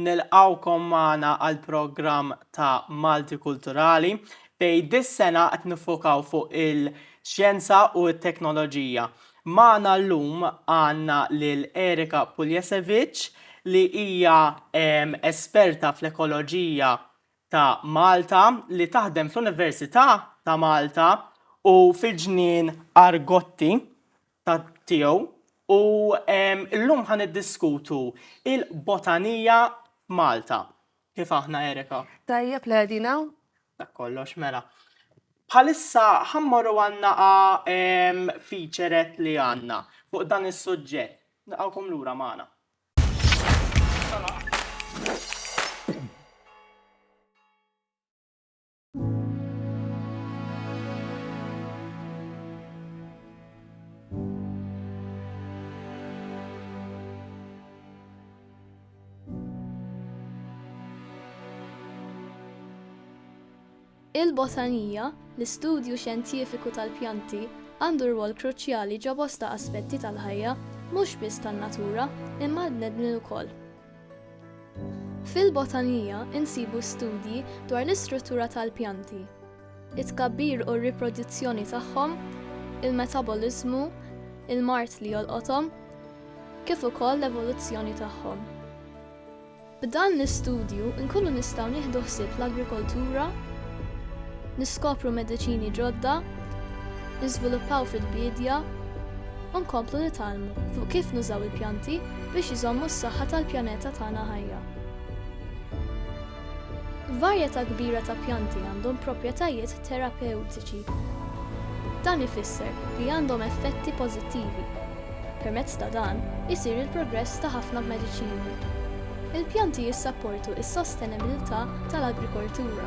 Nilqgħukom magħna għall-programm ta' Malti Kulturali fejn dis-sena qed niffokaw fuq il-xjenza u t-teknoloġija. Magħna llum għandna lil Erika Puljasevic li hija esperta fl-ekoloġija ta' Malta li taħdem fl-Università ta' Malta u fil-Ġnien Argotti. ta' tiegħu u llum ħa niddiskutu il-botanija f'Malta. Kif aħna Erika? Tajjeb li qegħdin hawn. Dak kollox mela. Bħalissa ħa mmorru għan-naqa featurette li għandna fuq dan is-suġġett. Nilqgħukom lura magħna. Il-botanija, l-istudju xjentifiku tal-pjanti, għandu rwol kruċjali ġo bosta aspetti tal-ħajja, mhux biss tan-natura, imma għall-bnedmin ukoll. Fil-botanija nsibu studji dwar l-istruttura tal-pjanti, it-tkabbir u r-riproduzzjoni tagħhom, il-metaboliżmu, il-mard li jolqothom, kif ukoll l-evoluzzjoni tagħhom. B'dan l-istudju nkunu nistgħu nieħdu ħsieb l-agrikoltura, niskopru mediċini ġodda, niżviluppaw fil-biedja, u nkomplu nitgħallmu fuq kif nużaw il-pjanti biex iżommu s-saħħa tal-pjaneta tagħna ħajja. Varjetà kbira ta' pjanti għandhom proprjetajiet terapewtiċi. Dan ifisser li għandhom effetti pożittivi. Permezz ta' dan isir il-progress ta' ħafna mediċini. Il-pjanti jissapportu s-sostenibbiltà tal-agrikoltura,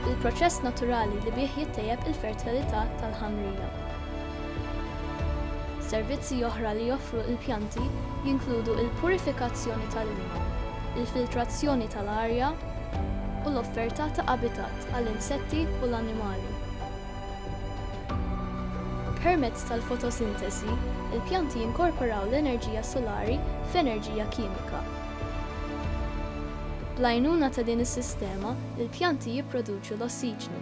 il-proċess naturali li bih jittejjeb il-fertilità tal-ħamrija. Servizzi oħra li joffru l-pjanti jinkludu l-purifikazzjoni tal-ilma, il-filtrazzjoni tal-arja, u l-offerta ta' abitat għall-insetti u l-annimali. Permezz tal-fotosinteżi, il-pjanti jinkorporaw l-enerġija solari f'enerġija kimika. Bl-għajnuna ta' din is-sistema, il-pjanti jipproduċu l-ossiġnu.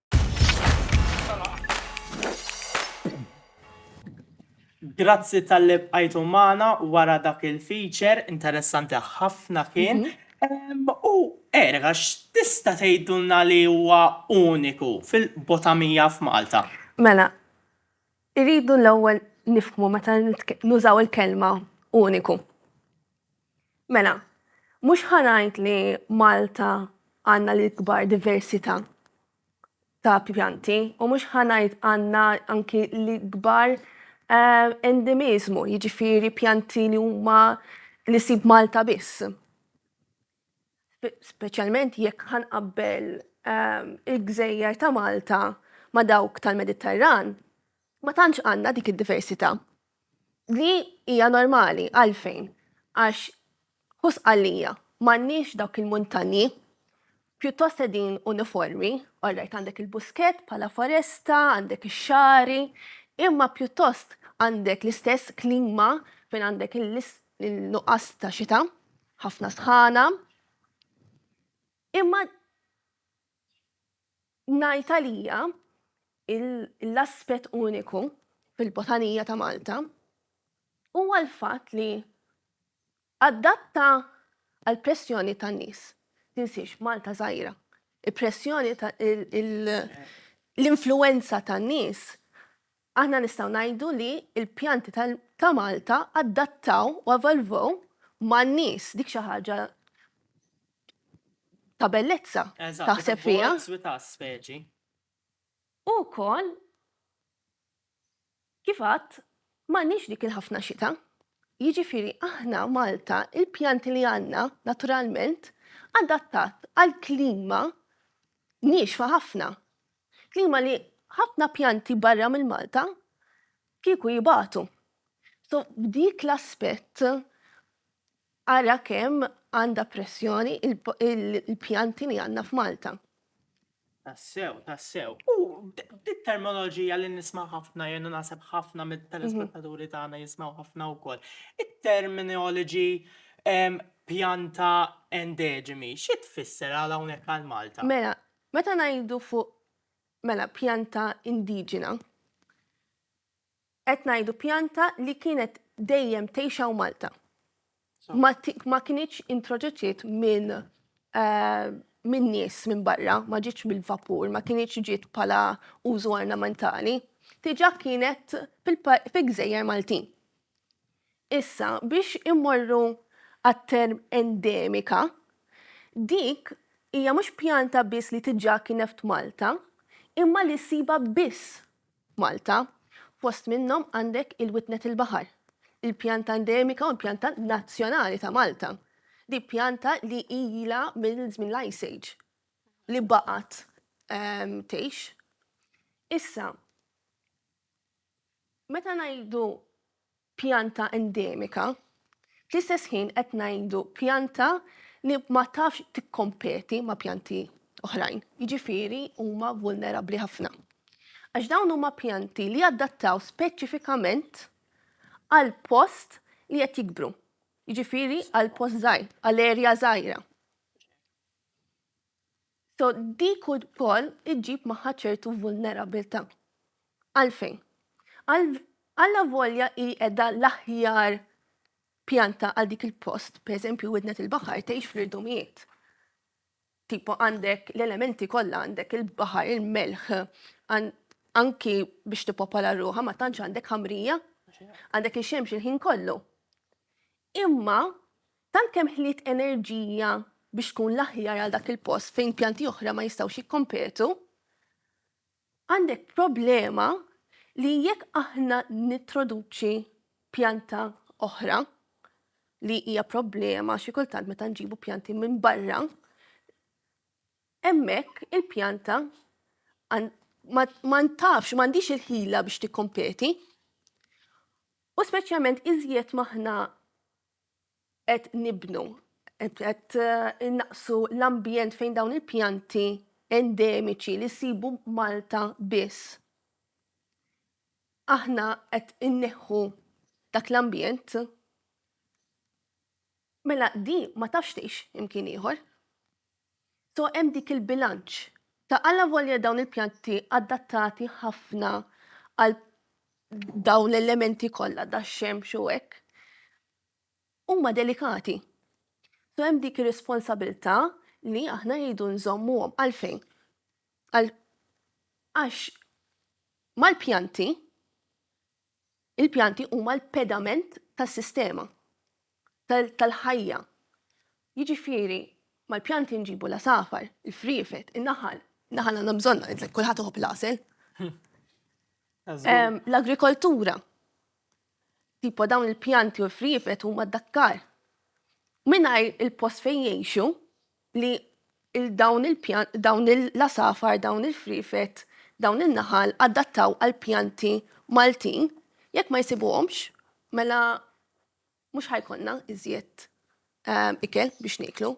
Grazzi tal-li bqajtu magħna wara dak il-feature, interessanti ħafna kien. Em, U Erika, x'tista' tgħidulna li huwa uniku fil-botamija f'Malta? Mela, irridu l-ewwel nifhmu meta nitk- nużaw il-kelma uniku. Mela, mhux ħa ngħid li Malta għandna l-ikbar diversità ta' pjanti u mhux ħa ngħid għandna anki l-ikbar endemiżmu, jiġifieri pjanti li huma li ssib Malta biss. Speċjalment jekk ħa nqabbel il-gżejjer ta' Malta ma' dawk tal-Mediterran, Ma tantx għandna dik id-diversità. Li hija normali, għalfejn? Għax hu Sqallija, m'għandniex dawk il-muntanji, pjuttost qegħdin uniformi, orrajt għandek il-Buskett bħala foresta, għandek ix-Xagħri, imma pjuttost għandek l-istess klima fejn għandek il-nuqqas ta' xita, ħafna sħana, imma ngħid għalija l-aspett uniku fil-botanija ta' Malta huwa l-fatt li adatta għal pressjoni tan-nies. Tinsiex Malta żgħira. Il-pressjoni l-influenza tan-nies Aħna nistgħu ngħidu li l-pjanti ta' Malta adattaw u evolvew man-nies, dik xi ħaġa ta' bellezza taħseb fiha. U wkoll, kif għadt, m'għandniex dik il-ħafna xita. Jiġifieri aħna Malta, il-pjanti li għandna naturalment adattat għal klima niexfa ħafna. Klima li ħafna pjanti barra minn Malta kieku jibatu. So f'dik l-aspett ara kemm għandha pressjoni il-pjanti li għandna f'Malta. Tassew, tassew. U dik terminoloġija li nisma' ħafna jien u naħseb ħafna mit-telespettaturi tagħna jismgħu ħafna wkoll. It-terminology pjanta endeġemi, xi tfisser għal hawnhekk għal Malta? Mela, Meta ngħidu fuq, mela, pjanta indiġena, qed ngħidu pjanta li kienet dejjem tgħix hawn Malta. Ma, ma kinitx introduċiet minn min nies minn barra, ma ġietx mill-vapur, ma kinitx ġiet bħala użu ornamentali, diġà kienet fil-gżejjer Maltin. Issa, biex immorru għat-term endemika, dik hija mhux pjanta biss li tiġà kienet f'Malta, imma li ssibha biss f'Malta. Fost minnhom għandek il-witnet il-baħar, il-pjanta endemika u l-pjanta nazzjonali ta' Malta. Dik pjanta li ilha minn żmien l-Ice Age li baqgħet tgħix. Issa, Meta ngħidu pjanta endemika, fl-istess ħin qed ngħidu pjanta li ma tafx tikkompeti ma' pjanti oħrajn, jiġifieri huma vulnerabbli ħafna. Għax dawn huma pjanti li jadattaw speċifikament għall-post li qed jikbru, jiġifieri għall-post żgħir, għal erja żgħira. So dik ukoll iġġib magħha ċertu vulnerabilità. Għalfejn? Allavolja hi qiegħda l-aħjar pjanta għal dik il-post, pereżempju widnet il-baħar tgħix fl-irdumijiet. Tipo għandek l-elementi kollha għandek il-baħar, il-melħ, anki biex tipopola ruħa ma tantx għandek ħamrija, għandek ix-xemx il-ħin kollu. Imma Tant kemm ħliet enerġija biex tkun l-aħjar għal dak il-post fejn pjanti oħra ma jistgħux jikkompetu, għandek problema li jekk aħna nintroduċi pjanta oħra li hija problema xi kultant meta nġibu pjanti minn barra, hemmhekk il-pjanta ma ntafx, m'għandix il-ħila biex tikkompeti. U speċjalment iżjed ma aħna qed nibnu, qed innaqqsu l-ambjent fejn dawn il-pjanti endemiċi li ssibu Malta biss. Aħna qed inneħħu dak l-ambjent mela di ma tafx tgħix imkien ieħor. So hemm dik il-bilanċ ta' allavolja dawn il-pjanti adattati ħafna għal dawn l-elementi kollha dax-xemx u hekk, huma delikati. So hemm dik ir-responsabilità li aħna rridu nżommuhom għalfejn. Għax mal-pjanti Il-pjanti huma l-pedament tas-sistema tal-ħajja. Jiġifieri mal-pjanti nġibu l-għasafar, il-friefet, in-naħal. Naħal għandna bżonn, kulħadd iħobb l-għasel. L-agrikoltura. Tipo dawn il-pjanti u l-friefet huma d-dakkar. Mingħajr il-post fejn jgħixu, li dawn il-pjan, dawn il-lasafar, dawn il-friefet, dawn il-naħal adattaw għal pjanti Maltin, jekk ma jsibuhomx, mela mhux ħajkonna iżjed ehm, ikel biex niklu.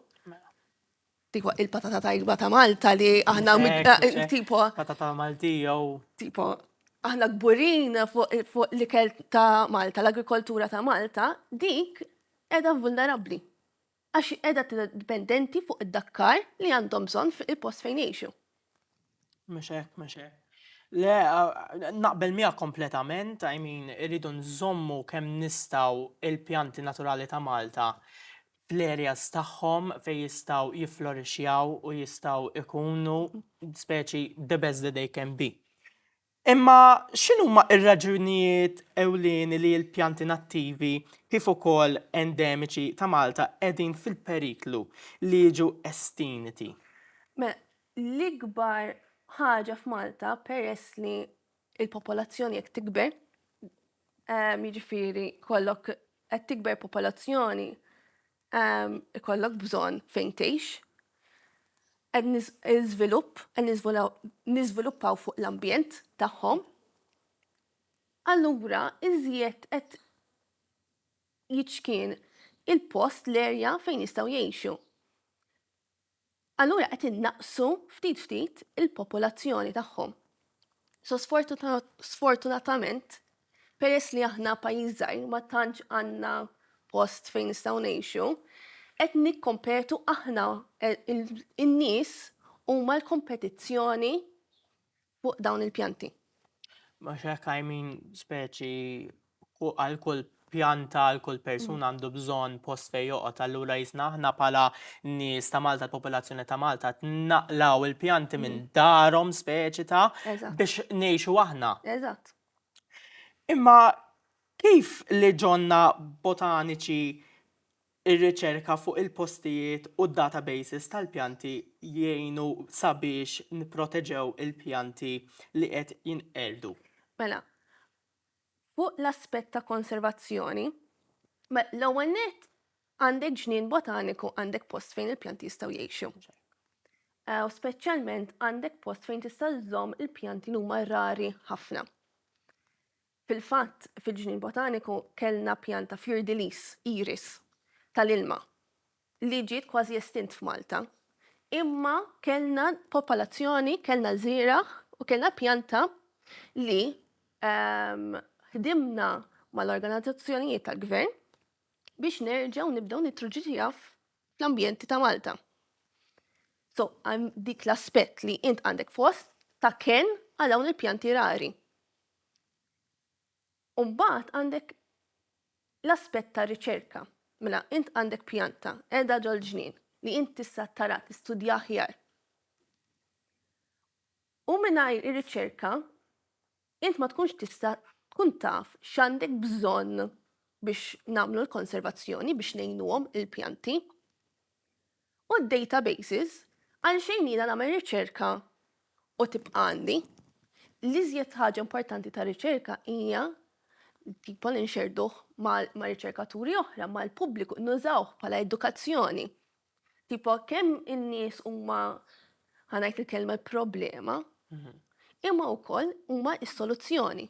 Tipo il-patata tajba ta' Malta li aħna eh, tipo. Patata Malti jew. Tipo, aħna gburin fuq l-ikel ta' Malta, l-agrikoltura ta' Malta, dik edha vulnerabli. għax hi qiegħda tidher dipendenti fuq id-dakkar li għandhom bżonn fil-post fejn jgħixu. Mhux hekk, mhux hekk. Le, naqbel miegħek kompletament, I mean, irridu nżommu kemm nistgħu il-pjanti naturali ta' Malta fl-areas tagħhom fejn jistgħu jifflorixxjaw u jistgħu jkunu speċi the best that they can be. Imma x'inhuma r-raġunijiet ewlieni li l-pjanti nattivi kif ukoll endemiċi ta' Malta qegħdin fil-periklu li jiġu estinti? Mela, l-ikbar ħaġa f'Malta peress li l-popolazzjoni qed tikber, jiġifieri jkollok qed tikber popolazzjoni ehm, ikollok bżonn fejn tgħix, qed niżvilupp, qed niżviluppaw fuq l-ambjent tagħhom. Allura iżjed qed jiċkien il-post l-erja fejn jistgħu jgħixu. Allura qed innaqqsu ftit ftit il-popolazzjoni tagħhom. So sfortunatament, peress li aħna pajjiż żgħir ma tantx għandna post fejn nistgħu ngħixu, qed nikkompetu aħna, in-nies huma l-kompetizzjoni fuq dawn il-pjanti. Għax hekk I mean speċi għal kull pjanta għal kull persuna għandu bżonn post fejn joqgħod allura jisna aħna bħala nies ta' Malta l-popolazzjoni ta' Malta tnaqlaw il-pjanti minn mm. darhom speċi ta' biex ngħixu aħna. Eżatt. Imma kif li ġonna botaniċi Ir-riċerka fuq il-postijiet u d-databases tal-pjanti jgħinu sabiex nipproteġew il-pjanti li qed jinqerdu. Mela, fuq l-aspett ta' konservazzjoni, l-ewwel nett għandek ġnien botaniku, għandek post fejn il-pjanti jistgħu jgħixu. U speċjalment għandek post fejn tista' żżomm il-pjanti li huma rari ħafna. Fil-fatt, fil-Ġnien Botaniku kellna pjanta fiordilis, iris, tal-ilma li ġiet kważi estint f'Malta. Imma kellna popolazzjoni, kellna żieragħ u kellna pjanta li ħdimna mal-organizzazzjonijiet tal-Gvern biex nerġgħu nibdew nitruġġiha fl-ambjenti ta' Malta. So, hemm dik l-aspett li int għandek fost ta' kenn għal dawn il-pjanti rari. U mbagħad għandek l-aspett ta' riċerka. Mela, int għandek pjanta qiegħda ġol-ġnien li int tista' tara tistudja aħjar. U mingħajr ir-riċerka int ma tkunx tista' tkun taf x'għandek bżonn biex nagħmlu l-konservazzjoni biex ngħinuhom il-pjanti. u d-databases għalxejn jiena nagħmel riċerka u tibqa' għandi. L-iżjed ħaġa importanti ta' riċerka hija tipo li nxerduh ma' riċerkaturi oħra, ma' l-pubbliku, nużawh bħala edukazzjoni. Tipo kemm in-nies huma ħanajt il-kelma problema, mhm. imma wkoll huma s-soluzzjoni.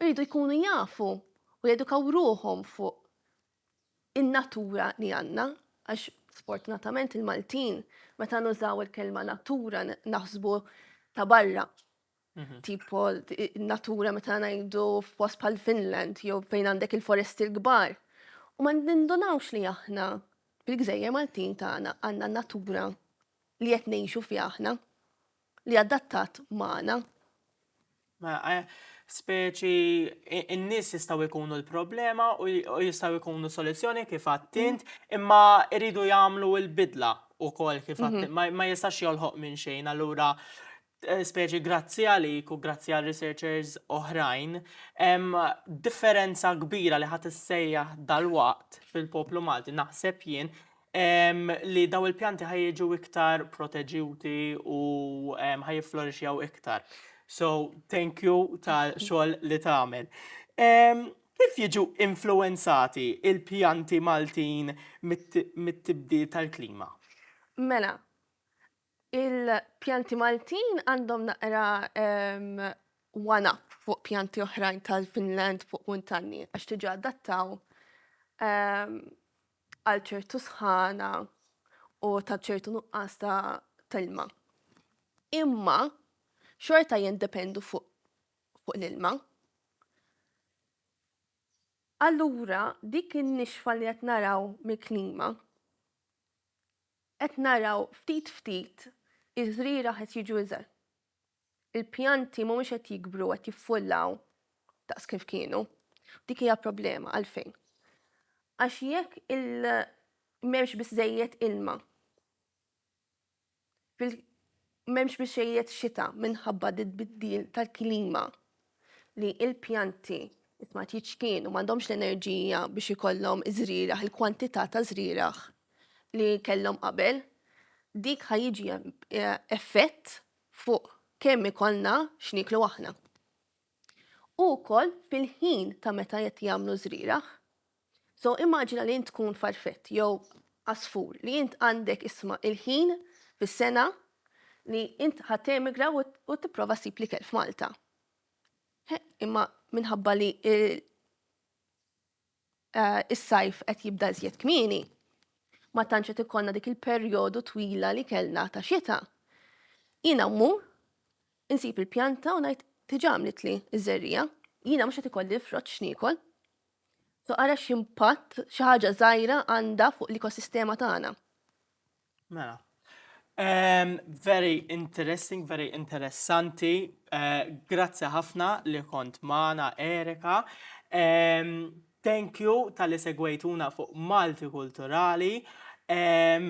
Rridu jkunu jafu u jedukaw ruhom fuq in-natura li għandna, għax sfortunatament il-Maltin meta nużaw il-kelma natura naħsbu ta' barra. Mhm. Tipo, natura meta ngħidu f'post pal Finland jew fejn għandek il-foresti l-kbar. U ma nindunawx li aħna fil-gżejjer Maltin tagħna għandna natura li qed ngħixu fi aħna. li adattat magħna. Ma eh, speċi in-nies jistgħu jkunu l-problema u jistgħu jkunu soluzzjoni kif għattint, mm. imma iridu jagħmlu l-bidla u kol kif mhm. għattint, ma jistax jolħoq minn xejn, allura eh, speċi grazzi għalik u grazzi għal researchers oħrajn, differenza kbira li ħat issejjaħ dal-waqt fil-poplu Malti, naħseb jien, li dawn il-pjanti ħa jiġu iktar proteġjuti u ħa jifflorixxew iktar. So, thank you tal-xogħol li tagħmel. Kif jiġu influwenzati l-pjanti Maltin mit-tibdil tal-klima? Mela, Il-pjanti Maltin għandhom naqra one up fuq pjanti oħrajn tal-Finland fuq muntanji għax tiġa adattaw għal ċertu sħana u ta' ċertu nuqqas ta' telma. Imma xorta jindependu fuq fuq l-ilma. Allura dik in-nixfa li qed naraw mill-klima Qed naraw ftit ftit iż-żrieragħ qed jiġu iżgħar. Il-pjanti mhumiex qed jikbru u qed jiffullaw daqs kif kienu. Dik hija problema għalfejn? Għax jekk m'hemmx biżżejjed ilma fil M'hemmx mixejjed xita minħabba d-tbiddil tal-klima li l-pjanti it-tmard jiċkienu, m'għandhomx l-enerġija biex ikollhom iż-żrieragħ, il-kwantità ta' żrieragħ li kellhom qabel. Dik ħa jiġi effett fuq kemm ikollna x'nieklu aħna. U wkoll fil-ħin ta' meta qed jagħmlu żrieragħ, So immaġina li int tkun farfett jew għasfur li int għandek isma' il-ħin fis-sena li int ħa temigra u tipprova ssib l-ikel f'Malta. Imma minħabba li Eh, is-sajf qed jibda iżjed kmieni, ma tantx qed ikollna dik il-perjodu twila li kellna ta' xita. Jiena mmur, insib il-pjanta u ngħid tiġa għamlitli iż-żerrija, jiena mhux qed ikolli l-frott x'niekol. So ara x'impatt xi ħaġa żgħira għandha fuq l-ekosistema tagħna. Mela. Um, very interesting, very interessanti. Uh, Grazzi ħafna li kont maħna Erika. Um, thank you tal-li segwejtuna fuq Malti Kulturali. Um,